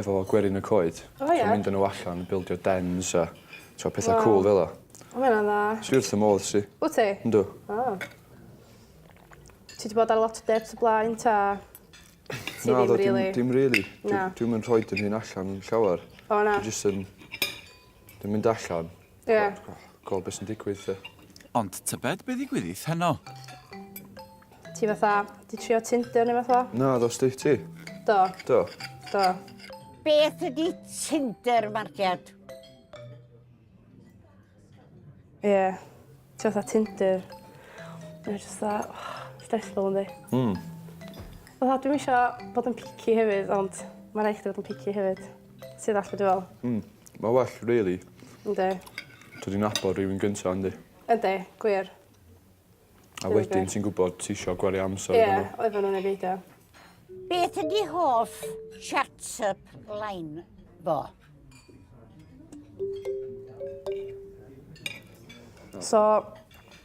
efo gwerin y coed. O ie? T'o' mynd â n'w allan bildio dens a t'o' petha... Waw. ...cŵl fel 'a. O ma' ynna'n dda. Dwi wrth fy modd 'sti. Wt ti? Yndw. O. Ti 'di bod ar lot o decs o blaen 'ta ti ddim rili? Naddo dim dim rili. Na. Dwi dwi'm yn rhoid 'yn hun allan llawer. O na? Dwi jyst yn yn mynd allan Ie. Gwel be sy'n digwydd 'te. Ond tybed be ddigwyddith heno? Ti fatha 'di trio Tinder neu fath o? Naddo Steve ti? Do. Do. Do. Beth ydi Tinder Marciad? Ie. Ti fatha Tinder. Mae jyst fatha oh, stressful yndi? Hmm. Fatha dwi'm isio bod yn picky hefyd ond ma' raid chdi fod yn picky hefyd. Ti ddall' be' dwi fe'wl? Hmm. Ma' well rili. Yndi. Dod i nabod rywun gynta yndi? Yndi gwir. A wedyn ti'n gwbod ti isio gwario amser efo n'w. Ie oedden n'w neu beidio. Beth ydi hoff chat-up line fo? So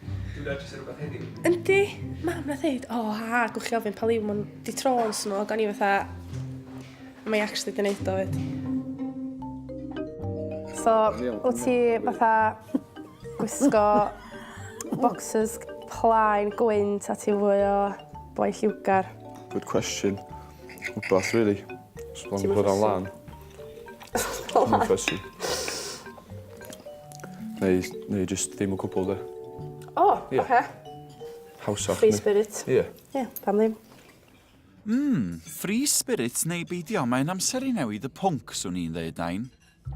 Dwi'n edrych sy'n rhywbeth heddiw. Yndi, mam na ddeud, o oh, ha, gwch chi ofyn pa liw ma'n di tro'n snog, o'n i fatha, mae i actually di neud o fyd. So, o ti fatha gwisgo boxes plaen gwynt a ti fwy o boi lliwgar? Good question. Wbath, really. Sbon bod o'n lan. Sbon o'n lan. Neu neu jyst ddim o cwbwl 'de? O! Ie. Oce. Hawsach Free spirit. Ie. Ie, pam ddim? Mm, free spirit neu beidio, mae'n amser i newid y pwnc, swn i'n ddeud, Nain.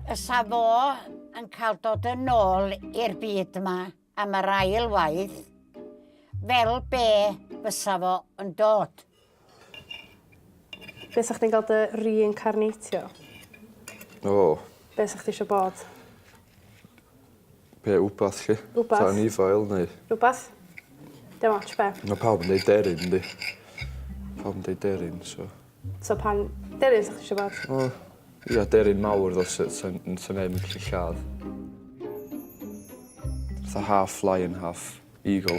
Fysa fo yn cael dod yn ôl i'r byd yma am yr ail waith, fel be fysa fo yn dod? Be' sa chdi'n ga'l dy re-incarnatio? O. Be' sa chdi isio bod? Be' wbath 'lly. Wbath. Fatha anifail neu... Rwbath. Dim ots be'. Ma' pawb yn deud deryn yndi? Pawb yn deud deryn so... So pan... Deryn sa chdi isio bod? O ia deryn mawr tho sy- sa'n n- sa neb yn gallu lladd. Fatha half lion half eagle.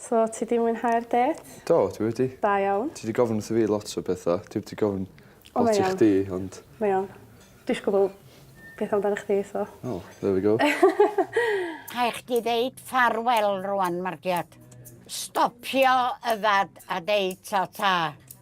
So, ti 'di mwynhau'r dêt? Do, dwi wedi. Da iawn. Ti 'di gofyn wrtho fi lot o betha. Dwi 'di gofyn O, lot i iawn. chdi ond... Mae iawn. Dwi isio gwbo peth amdanach chdi so... Wel, there we go. Rhai' chdi ddeud ffarwel rŵan, Margiad. Stopio yfad a deud ta ta.